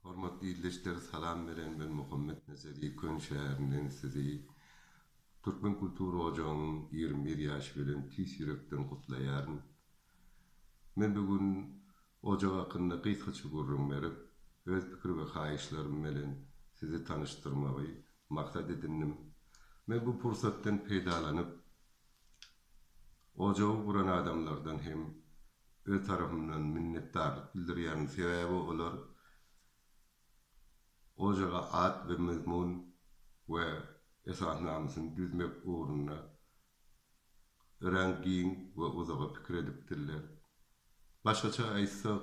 Hormatly ildeşler salam beren ben Muhammet Nezeri Köln şäherinden sizi Türkmen kultura ojagynyň ýigrimi bir ýaşy bilen tüýs ýürekden gutlaýaryn. Men bu gün ojak hakynda gysgaça gürrüň berip, öz pikir we haýyşlarym bilen sizi tanyşdyrmagy maksat edindim. Men bu pursatdan peýdalanyp, Ojagy guran adamlardan hem öz tarapymdan minnetdarlyk bildirýärin, sebäbi olar ojaga at we mazmun we esasnamasyny düzmek ugrunda örän giň we uzaga pikir edipdirler. Başgaça aýtsak,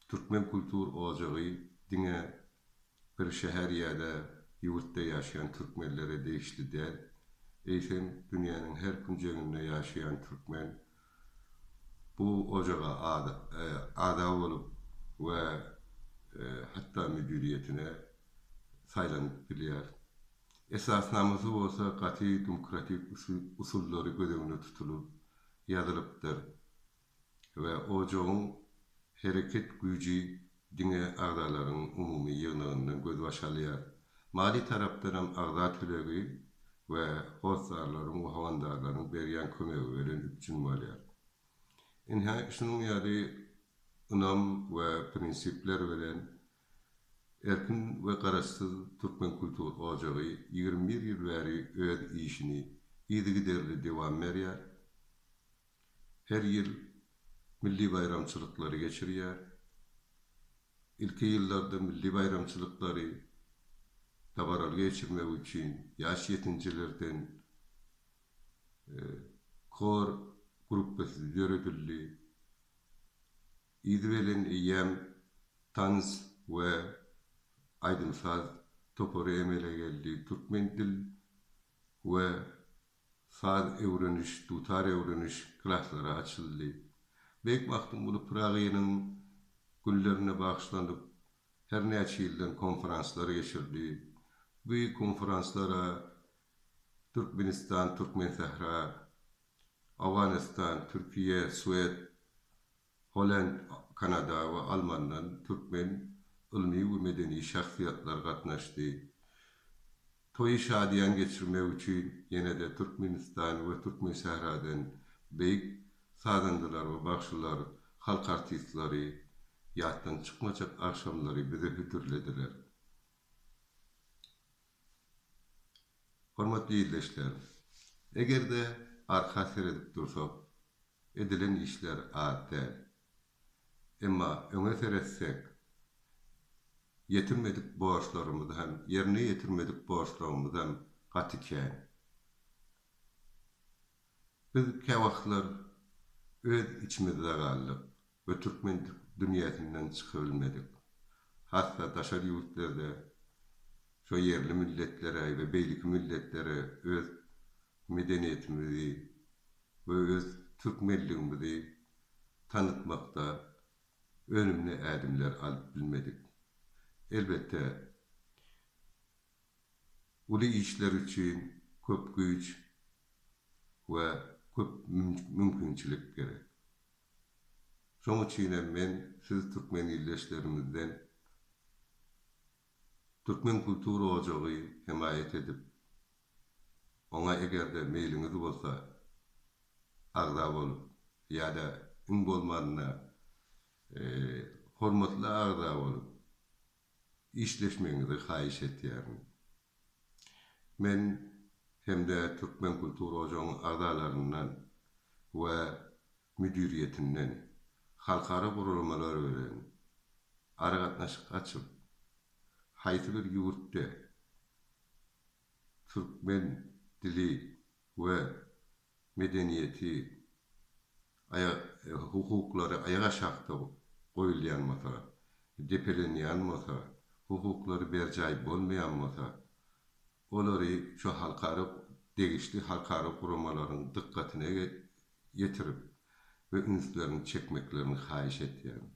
Türkmen kultur ojagy diňe bir şäher ýa-da ýurtda ýaşaýan türkmenlere degişli däl, eýsem, dünýäniň her künjeginde ýaşaýan türkmen bu ojaga agza bolup we hatda müdiriýetine saýlanyp bilýär. Esasnamasy bolsa gaty dumkratik usullary göz öňünde tutulyp ýazylypdyr. we ojagyň hereket güýji diňe agzalaryň umumy ýygnagyndan gözbaş alýar. Maliý tarapdan hem agza tölegi we hossarlaryň we howandarlaryň berýän kömegi bilen üpjün bolýar. Ynha, şunuň ýaly ynam we prinsipler bilen Erkin we garaşsyz türkmen kultur ojagy ýigrimi bir ýyl bäri öz işini yzygiderli dowam berýär, her ýyl milli baýramçylyklary geçirýär. Ilki ýyllarda milli baýramçylyklary dabaraly geçirmek üçin ýaş ýetinijilerden hor gruppasy döredildi. Yzy bilen eýýäm tans we aýdym-saz topary emele geldi, türkmen dil we saz öwreniş, dutar öwreniş klaslary açyldy. Beýik Magtymguly Pyragynyň günlerine bagyşlanyp her näçe ýyldan konferanslar geçirdi. Bu konferanslara Türkmenistan, Türkmensähra, Owganystan, Türkiýe, Swed, Holland, Kanada we Almandan türkmen ylmy we medeni şahsyýetler gatnaşdy. Toýy şadyýan geçirmek üçin ýene-de Türkmenistan we Türkmensähradan beýik sazandalar we bagşylar, halk artistleri ýatdan çykmajak agşamlary bize hödürlediler. Hormatly ildeşler! Eger-de arka seredip dursak, Edilen işler az däl. Emma öňe seretsek, ýetirmedik borçlarymyz hem, ýerine ýetirmedik borçlarymyz hem gaty kän. Biz käwagtlar öz içimizde galdyk we türkmen dünýäsinden çykybilmedik. Hassa daşary ýurtlarda şo ýerli milletleri we beýleki milletleri öz medeniýetimizi we öz türkmenligimizi tanytmakda önümli ädimler alyp bilmedik. Elbetde, uly işler üçin köp güýç we köp mümkinçilik gerek. Şonuň üçin hem men siz türkmen ildeşlerimizden Türkmen kultura ojagy hemaýat edip, Oňa eger-de meýliňiz bolsa, agza bolup ýa-da iň bolmanda hormatly agza bolup işleşmegiňizi haýyş etýärin. Men hem-de Türkmen kultur ojagyň agzalaryndan we müdiriýetinden halkara guramalar bilen aragatnaşyk açyp, haýsy bir ýurtda türkmen dili we medeniýeti aýa hukuklary aýak aşakda goýulýan bolsa, depelenýän bolsa, hukuklary berjaý bolmaýan bolsa, olary şu halkara degişli halkara guramalaryň dykgatyna ýetirip we ünslerini çekmeklerini haýyş etýärin.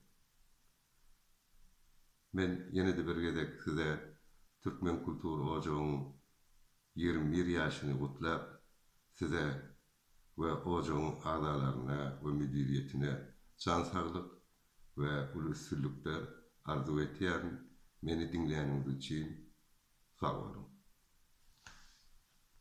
Men ýene-de bir gezek size Türkmen kultur ojagyň ýigrimi bir ýaşyny gutlap, size we ojagyň agzalaryna we müdiriýetine jan saglyk we uly üstünlikler arzuw etýärin, meni diňläniňiz üçin sag boluň.